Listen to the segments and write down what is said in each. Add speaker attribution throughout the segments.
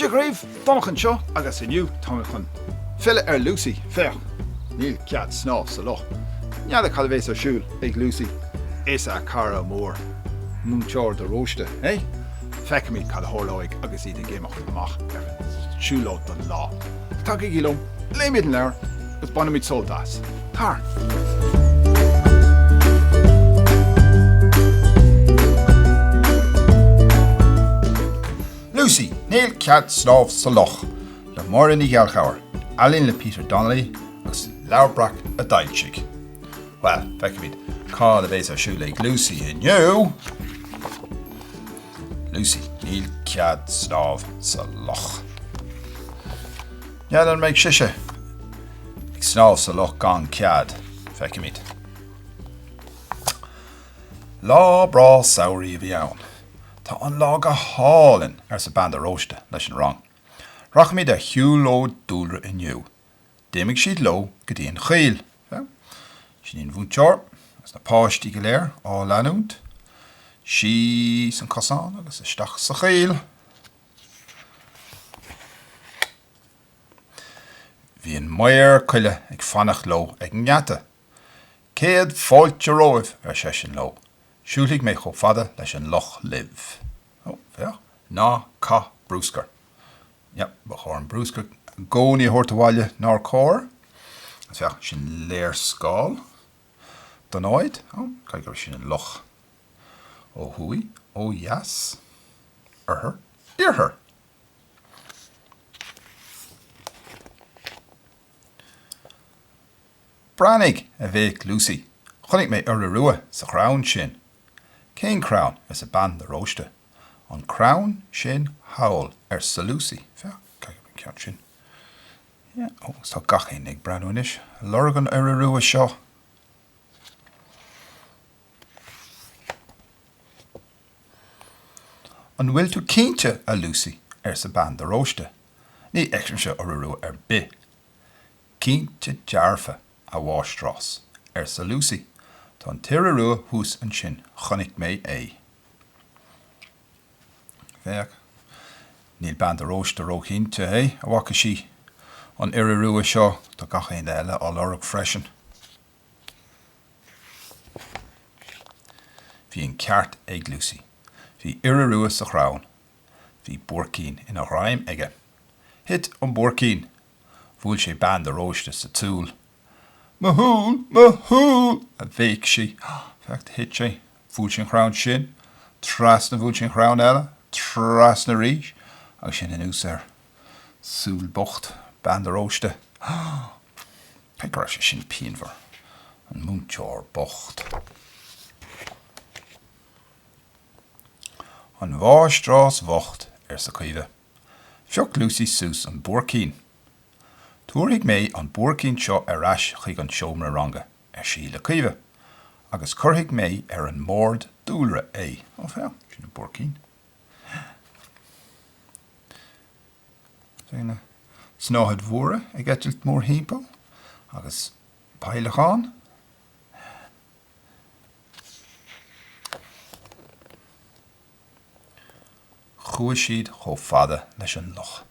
Speaker 1: Dia dhaoibh, Donnchadh anseo agus inniu táim chun filleadh ar Lucy. Féach, níl cead snámh sa loch. N'fheadar cad a bhéas ar siúl ag Lucy is a cara mór, Múinteoir de Róiste, eh? Feicfimid cad a tharlóidh agus iad ag imeacht amach ar an tsiúlóid don lá. Tagaigí liom, léifimid an leabhar agus bainfimid sult as. Tar! Lucy, Níl cead snámh sa loch, le Máire Ní Ghallchobhair, ealaín le Peter Donnelly agus Leabhar Breac a d'fhoilsigh. Bhuel, feicfimid cad a bhéas ar siúl ag Lucy inniu! Lucy, níl cead snámh sa loch. N'fheadar an mbeidh sise ag snámh sa loch gan cead, feicfimid. Lá breá samhraí a bhí ann. Tá an lá go hálainn, arsa Bean de Róiste leis an rang. Rachaimid ar shiúlóid dúlra inniu. D'imigh siad leo go dtí an choill. Sin í an múinteoir agus na páistí go léir á leanúint síos an cosán agus isteach sa choill. Bhí an maor coille ag fanacht leo ag an ngeata. Céad fáilte romhaibh, ar seisean leo. Siúlfaidh mé chomh fada leis an loch libh. Ó, féach, ná caith brúscar. Yep, ba chóir an brúscar i gcónaí a thabhairt abhaile, nár chóir? Agus féach, sin léarscáil den áit. Ó, caithfidh gurb é sin an loch. Ó thuaidh, ó dheas, oirthear, iarthar. Breathnaigh! a bhéic Lucy. Chonaic mé iora rua sa chrann sin. Cén crann? arsa Bean de Róiste. An crann sin thall arsa Lucy, féach, caithfidh an ceann sin, yeah, oh, is tá gach éinne ag breathnú anois, ag lorg an iora rua seo. An bhfuil tú cinnte, a Lucy, arsa Bean de Róiste, ní fheicimse iora rua ar bith. Cinnte dearfa, a mháistreás, arsa Lucy, tá an t-iora rua thuas ansin, chonaic mé é. Féach. Níl bean de Róiste róchinnte an bhfaca sí an iora rua seo, tá gach éinne eile á lorg freisin. Bhí an ceart ag Lucy. Bhí iora rua sa chrann. Bhí buaircín ina ghreim aige. Thit an buaircín. Bhuail sé bean de Róiste sa tsúil Mo shúil! Mo shúil! a bhéic sí. Féach, thit sé. Bhuail sé an crann sin, trasna, bhuail sé an crann eile, trasna arís, agus ansin anuas air. Súil bocht, bean de Róiste. Déarfainn go raibh sé sin pianmhar. An múinteoir bocht. An mháistreás bhocht, arsa Caoimhe. Phioc Lucy suas an buaircín. Tabharfaidh mé an buaircín seo ar ais chuig an seomra ranga, ar sí le Caoimhe, agus cuirfidh mé ar an mbord dúlra é. Ó, féach, sin an buaircín. Bhí na snáthaidí móra ag eitilt mórthimpeall, agus peidhleacháin. Chuaigh siad chomh fada leis an loch.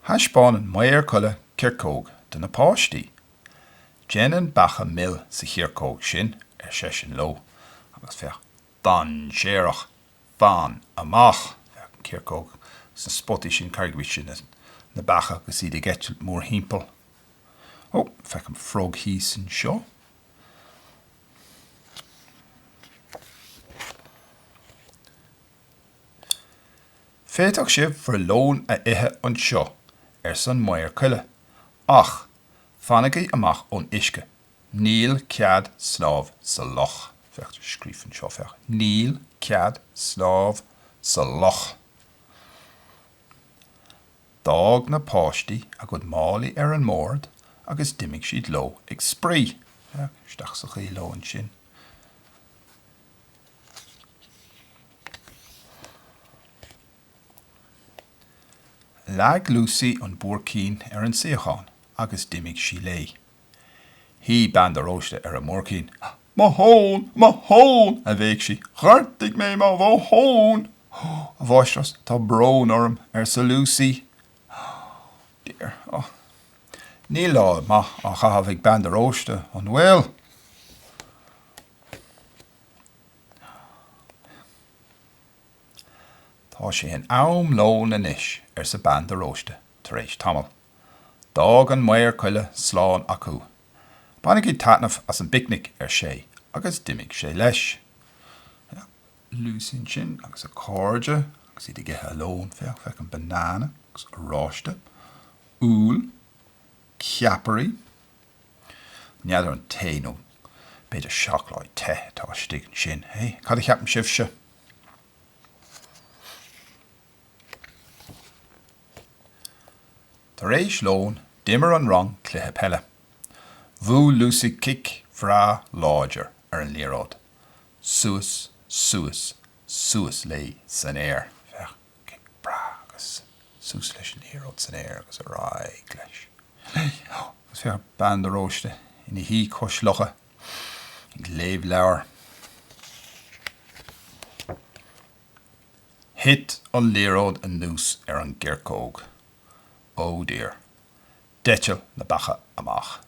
Speaker 1: Thaispeáin an Maor Coille coirceog do na páistí. Déanann beacha mil sa choirceog sin, ar seisean leo, agus féach dainséarach. Fan amach! Féach an choirceog sna spotaí sin, carraigreacht sin, na beacha agus iad ag eitilt mórthimpeall. Ó, feicim frog thíos anseo. Féadfadh sibh bhur lón a ithe anseo, arsa an Maor Coille, ach fanaigí amach ón uisce. Níl cead snámh sa loch. Níl cead snámh sa loch. D'fhág na páistí a gcuid málaí ar an mbord agus d'imigh siad leo ag spraoi. Isteach sa choill leo ansin. Leag Lucy an buaircín ar an suíochán agus d'imigh sí léi. Shuigh bean de Róiste ar an mbuaircín. Mo thón! Mo thón! a bhéic sí. Ghortaigh mé mo thón! A mháistreás, tá brón orm, arsa Lucy. Oh dear. Oh. Níl lá maith á chaitheamh ag bean de Róiste, an bhfuil? Tá sé in am lóin anois, arsa bean de Róiste tar éis tamaill. D'fhág an maor coille slán acu. 'Bainigí taitneamh as an bpicnic, ar sé, agus d'imigh sé leis. Lucy ansin agus a cairde agus iad ag ithe a lóin. Féach, feicim banana agus oráiste, úll, ceapairí. N'fheadar an tae nó b'fhéidir seacláid te atá istigh ansin, hé? Cad a cheapann sibhse? Tar éis lóin, d'imir an rang cluiche peile. Bhuail Lucy cic breá láidir ar an liathróid. Suas, suas, suas léi san aer. Féach, cic breá agus suas leis an liathróid san aer agus ar aghaidh leis, léi. Agus féach, Bean de Róiste ina suí cois locha ag léamh leabhair. Thit an liathróid anuas ar an gcoirceog. Ó, dear. D'eitil na beacha amach.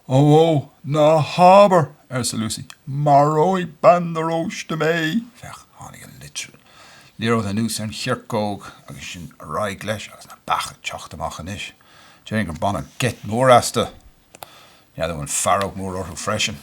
Speaker 1: Ó, ó, ná habair! arsa Lucy. Maróidh bean de Róiste mé! Féach, tháinig an liathróid anuas ar an choirceog agus ansin ar aghaidh leis agus na beacha ag teacht amach anois. Déarfainn gur baineadh geit mhór astu. N'fheadar an bhfuil fearg mhór orthu freisin.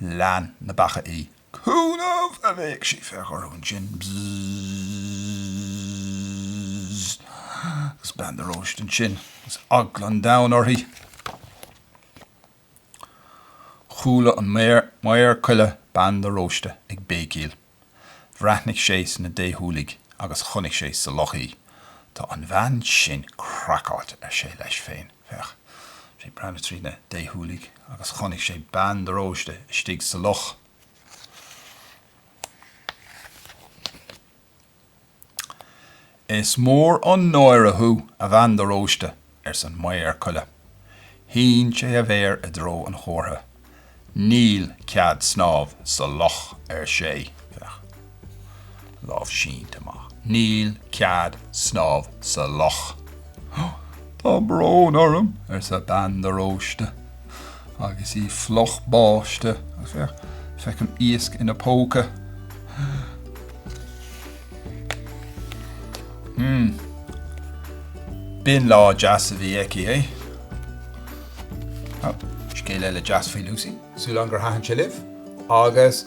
Speaker 1: lean na beacha í. Cúnamh! a bhéic sí fé dhoras an tsin. Bzzz! Agus bean de Róiste ansin agus eagla an domhain uirthi. Chuala an maor coille bean de Róiste ag béicíl. Bhreathnaigh sé sna déshúiligh agus chonaic sé sa loch í. Tá an bhean sin craiceáilte, ar sé leis féin. Féach. sé ag breathnú trí na déshúiligh agus chonaic sé bean de Róiste istigh sa loch. Is mór an náire thú, a bhean de Róiste, ars an Maor Coille. Shín sé a mhéar i dtreo an chomhartha. Níl cead snámha sa loch, ar sé. Féach. Lámh sínte amach. Níl cead snámha sa loch. Tá brón orm, arsa bean de Róiste. Agus í fliuch báite, feicim iasc ina póca. Mmm. B'in lá deas a bhí aici, é? Scéal eile deas faoi Lucy, súil agam gur thaitin sé libh, agus.